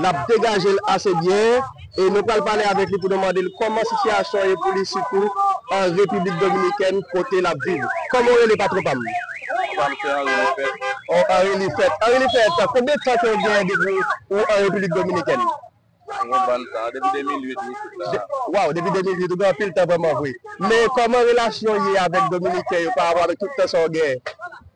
N ap degaje l ase byen e nou pral pale avèk li pou nou mande l kòman sitiyasyon an ye pou li sitou an Repiblik Dominikèn kote l ap viv. Kòman ou rele patwon pa m? Patwon pa m se Anri Lifèt. Oh Anri Lifèt. Anri Lifèt, konbyen tan ke ou genyen depi ou an Repiblik Dominikèn? Mwen gen yon bann tan. Depi 2008 m isit la. Waw! Depi 2008. Ou gen anpil tan vrèman vre. Men kòman relasyon ou ye avèk Dominiken yo pa rapò avèk tout tan sa ou genyen?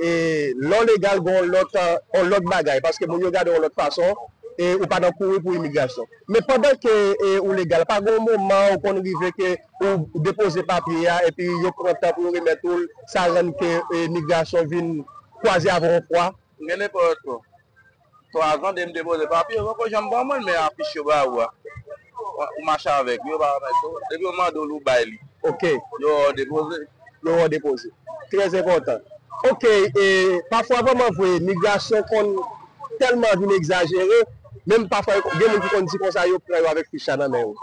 e lò legal gen yon lòt yon lòt bagay paske moun yo gade w yon lòt fason e ou pa nan kouri pou imigrasyon men pandan ke ou legal pa gen yon moman ou konn rive ke ou depoze papye a epi yo pran tan pou yo remèt ou l sa rann ke imigrasyon vin kwaze avè w yon fwa? Mwen gen 9 an ankò. 3 zan depi m te poze papye yo poko janm ban mwen men afich yo ba ou a ou mache avèk li yo pa remèt yo depi yo mande w li ou bay li ok yo wè w depoze. Yo wè w depoze trè enpòtan ok e pafwa vrèman vre migrasyon konn tèlman vin egzajere menm pafwa gen moun ki konn di konsa yo pran yo avèk fich la nan men yo.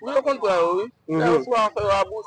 Wi yo konn pran yo wi lè yo sou afè yo a bous.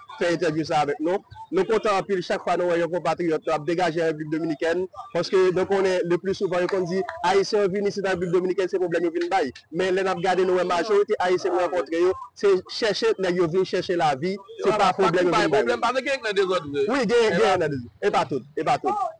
fè entèvyou sa avèk nou. Nou kontan anpil chak fwa nou wè yon konpatriyòt nou ap degaje an Repiblik Dominikèn paske nou konnen le pli souvan yo konn di Ayisyen yo vin isit an Repiblik Dominikèn se pwoblèm yo vin bay men lè n ap gade nou wè majorite Ayisyen nou rankontre yo se chèche nèg yo vin chèche lavi se pa pwoblèm yo vin bay. Wi genyen nan dezòd vre.